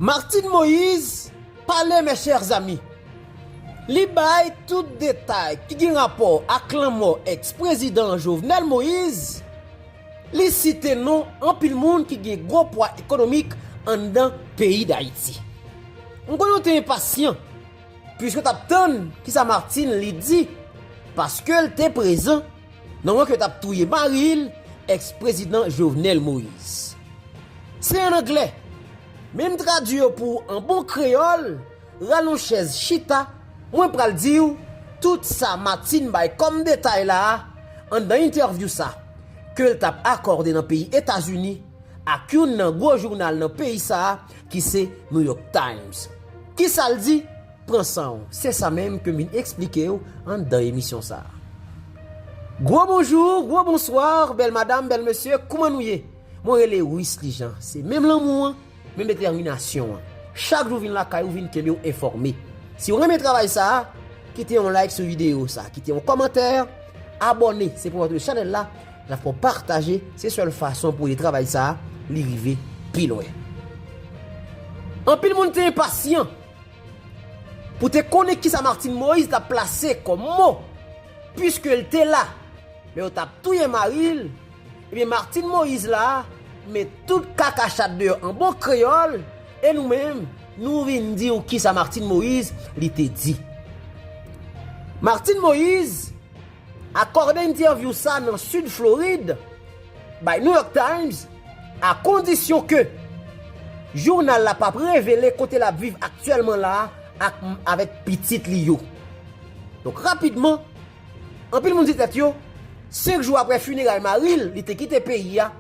Martine Moïse pale mes chers amis. Li bay tout detay ki gen rapò ak lanmò ex prezidan Jovenel Moïse, li site non anpil moun ki gen gwo pwa ekonomik anndan peyi Dayiti. M konnen w te enpasyan puiske w t ap tann kisa Martine li di paske l te prezan. Nan wan ke tap touye maril ex prezidan jovenel moise. Se an anglè Men m tradwi yo pou ou an bon kreyòl Ral on chèz chita Mwen pral di ou tout sa Martine bay kòm detay la a anndan entèvyou sa ke l t ap akòde nan peyi Etazini ak youn nan gwo jounal nan peyi sa a ki se New York Times Ki sa l di? Pran san w, se sa menm ke m vin eksplike w anndan emisyon sa. Gwo bonjou, gwo bonswa, bèl madam, bèl mesye, kouman nou ye? Mwen rele Wisly Jean, se menm lanmou an, menm detèminasyon an. Chak jou vin lakay ou vin kenbe w enfòme. Si w renmen travay sa, kite yon like sou videyo sa, kite yon kòmantè, abòne, se pou antre chanèl la, n ap fè w pataje, se sèl fason pou ede travay sa, li rive pi lwen. Anpil moun te enpasyan! Pou te konnen kisa Martine Moïse tap plase kòm mo, pwiske l te la, lè yo tap touye mari l, ebyen Martine Moïse la met tout kaka chat deyò an bon kreyòl, e nou menm nou vin di w kisa Martine Moïse li te di. Martine Moïse akòde entèvyou sa nan Sid Florid, By New York Times, a kondisyon ke jounal la pap revele kote lap viv aktyèlman la ak avèk pitit li yo. Donk rapidman, anpil moun di tèt yo, 5 jou aprè funeray mari l, li te kite peyi a,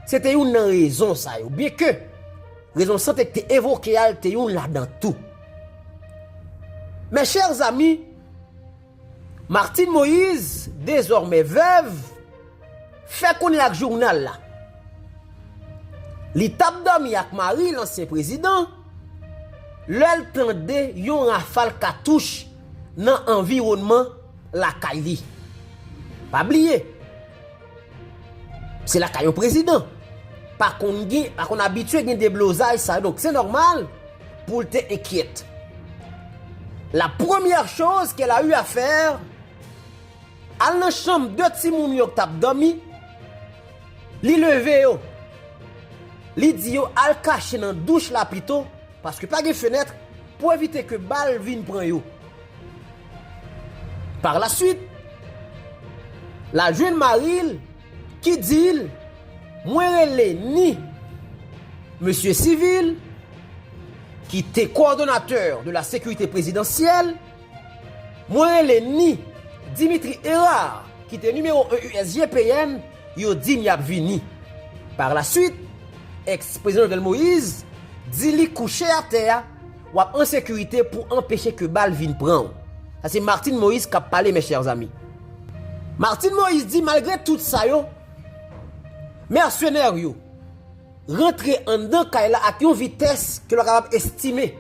se te youn nan rezon sa yo, byen ke rezon sante k te evoke a l te youn ladan tou. Mes chers amis, Martine Moïse, dezòmè vèv, fè konnen ak jounal la li t ap dòmi ak mari l ansyen prezidan lè l tande yon rafal katouch nan anviwònman lakay li. Pa bliye! Se lakay yon prezidan. Pa konn gen, pa konn abitye gen deblozay sa yo. Donk se nòmal pou l te enkyèt. La premyè choz ke l a eu a fè, al nan chanm 2 timoun yo k t ap dòmi, li leve yo, li di yo al kache nan douch la pito, paske pa gen fenèt, pou evite ke bal vin pran yo. Par la swit, la jwenn mari l ki di l, Mwen rele ni Mesye Civil, ki te kowòdonatè de la sekirite prezidansyèl, mwen rele ni Dimitri Herard, ki te nimewo 1 USGPN, yo di m y ap vini. Par la swit, ex-prezidan Jovenel Moïse di li kouche atè a, Wap an sekirite pou anpeche ke bal vin pran w. Sa se Martine Moïse kap pale mes chers amis. Martine Moïse di malgre tout sa yo, mercenaires yo rantre anndan kay la ak yon vitès ke lwa kapab estime.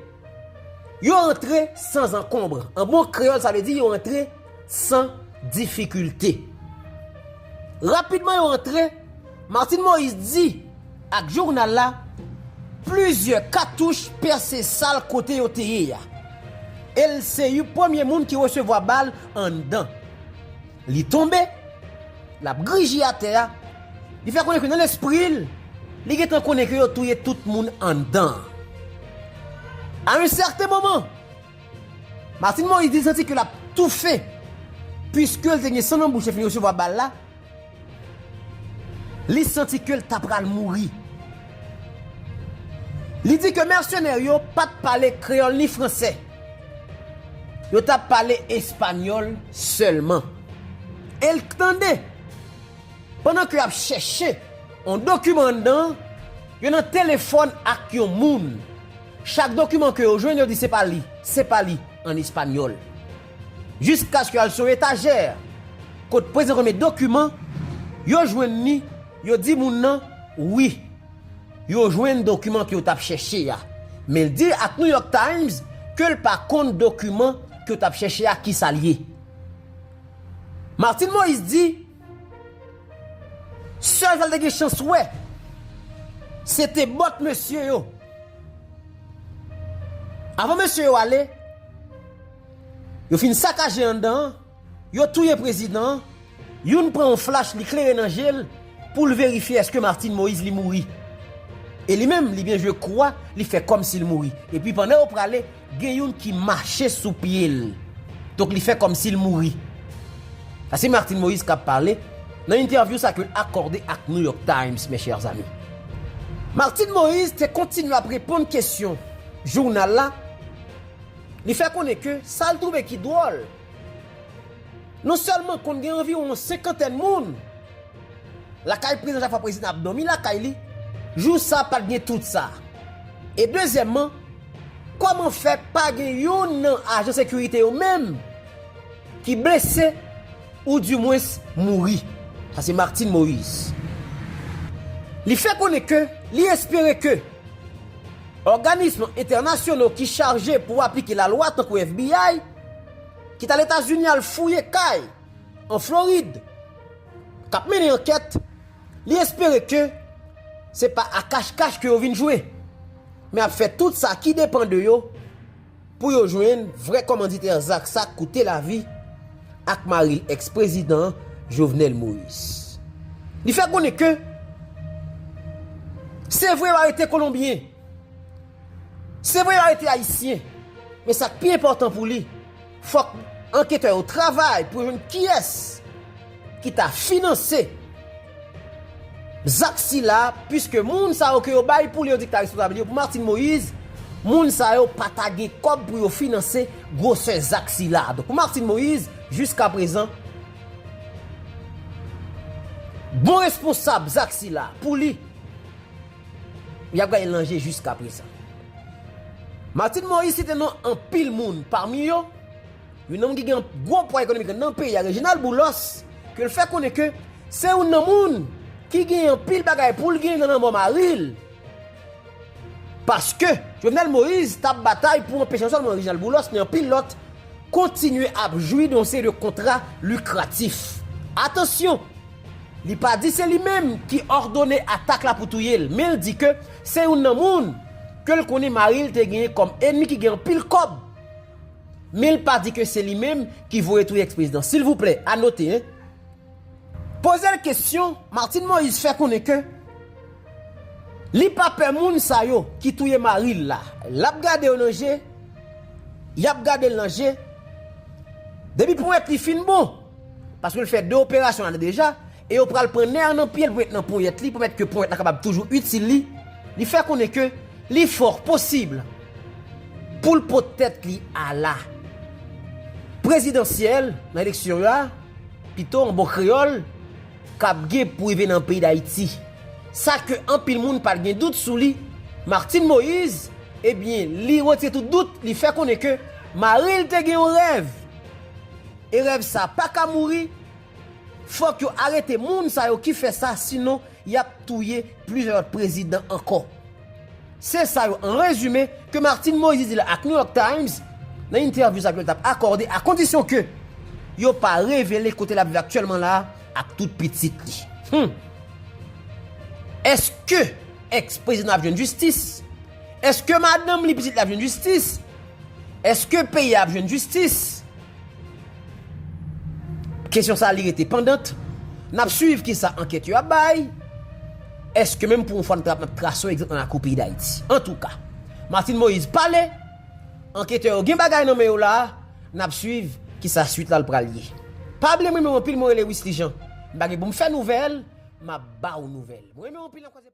Yo rantre san zankonbre. An bon kreyòl sa vle di yo rantre san difikilte. Rapidman yo rantre. Martine Moïse di ak journal la plizyè katouch pèse sal kote yo te ye a. E l se you premye moun ki resevwa bal anndan. Li tonbe, l ap grije atè a, li fè konnen ke nan lespri l, li gentan konnen ke yo touye tout moun anndan an. A yon sèten moman, Martine Moïse di l santi ke l ap toufe, pwiske l te gen san nan bouch lè fin resevwa bal la, Li santi ke l ta pral mouri. Li di ke mèsenè yo pa t pale kreyòl ni franse. Yo t ap pale espanyòl sèlman. E l tande, pandan ke y ap chèche yon dokiman anndan, yo nan telefòn ak yon moun. Chak dokiman ke yo jwenn, yo di se pa li, se pa li, an espanyòl. Jiskaske yo al sou etajè kot prezidan renmen dokiman, yo jwenn li, yo di moun nan, wi, yo jwenn dokiman ke yo t ap chèche a. Men l di ak New York Times ke l pa konn dokiman ke yo t ap chèche a kisa l ye. Martine Moïse di, sèl sa l te gen chans wè, se te bòt mesye yo. Avan mesye yo ale, Yo fin sakaje anndan an, yo touye prezidan an, youn pran yon flach li klere nan je l pou l verifye èske Martine Moïse li mouri. E li menm li byen jwe kou a, li fè kòmsi l mouri. Epi pandan yo prale, gen youn ki mache sou pye l. Donk li fè kòmsi l mouri. Sa se Martine Moïse k ap pale nan entèvyou sa ke l akòde ak New York Times, mes chers amis. Martine Moïse te kontinye ap reponn kesyon jounal la. Li fè konnen ke sa l twouve ki dwòl, non sèlman konn gen anviwon yon senkantèn moun lakay prezidan chak fwa prezidan ap dòmi lakay li, jou sa pat gen tout sa. E dezyèmman, kòman fè pa gen youn nan ajan sekirite yo menm ki blese? Ou di mwens mouri. Sa se Martine Moise. Li fè konnen ke li espere ke òganism entènasyono ki chaje pou aplike lalwa tankou FBI ki t al Etazini al fouye kay an Florid k ap mennen ankèt, li espere ke se pa a kach kach ke yo vin jwe men ap fè tout sa ki depan de yo Pou yo jwenn vrè kòmanditè zak sa k koute lavi ak mari l ex prezidan Jovenel Moise. Li fè konnen ke se vre yo arete kolonbyen, se vre yo arete ayisyen, men sa k pi enpòtan pou li fòk anketè yo travay pou yo jwenn kiyès ki ta finanse Zak sila, puiske moun sa yo ke yo bay pou Leonik ta responsab li yo pou Martine Moïse, moun sa yo pa ta gen kòb pou yo finanse gwosè zak sila. Donk pou Martine Moïse, jiskaprezan, bon responsab zak sila, pou li, y ap gade l nan je jiskaprezan. Martine Moïse site non anpil moun, pami yo, Yon nonm ki gen yon gwo pwa ekonomik nan peyi a, Reginald Boulos, ke l fè konnen ke se yon nan moun ki gen yon pil bagay pou l gen nan lanmò mari l. Paske, Jovenel Moïse tap batay pou anpeche non sèlman Reginald Boulos, men yon pil lòt kontinye ap jwi de yon seri de kontra likratif. Atansyon, li pa di se li menm ki òdone atak la pou touye l, men l di ke se yon nan moun ke l konnen mari l te genyen kòm enmi ki gen anpil kòb. Men l pa di ke se li menm ki voye touye ex prezidan. Silvouplè, a note hein. Poze l kesyon, Martine Moïse fè konnen ke li pa pè moun sa yo ki touye mari l la. L ap gade yo nan je, y ap gade l nan je, depi ponyèt li fin bon. Paske l fè 2 operasyon la deja, e yo pral pran nè an nan pye l pou met nan ponyèt li, pou mèt ke ponyèt la kapab toujou itil li, li fè konnen ke li fòr posib pou l pot tèt li a la prezidansyèl nan eleksyon yo a, pito an bon kreyòl, kap gen pou rive nan peyi Dayiti. Sa ke anpil moun pat gen dout sou li, Martine Moïse, ebyen li retire tout dout, li fè konnen ke mari l te gen yon rèv. E rèv sa paka mouri? Fòk yo arete moun sa yo ki fè sa sinon yap touye plizyè lòt prezidan ankò. Se sa yo an rezime ke Martine Moïse di la ak New York Times nan entèvyou sa ke l tap akòde a kondisyon ke yo pa revele kote lap viv aktyèlman la a ak tout pitit li. Hum! Eske ex prezidan ap jwenn jistis? Eske madanm li, pitit li ap jwenn jistis? Eske peyi a ap jwenn jistis? Kesyon sa li rete pandant, n ap swiv kisa ankèt yo ap bay, èske menm pou yon fwa n ap trase yon egzanp nan lakou peyi Dayiti. Antouka, Martine Moïse pale, anketè yo gen bagay nan men yo la, n ap swiv kisa swit la pral ye. Pablie m renmen w anpil mwen rele Wisly Jean m pa gen pou m fè nouvèl m ap ba w nouvèl m renmen w anpil.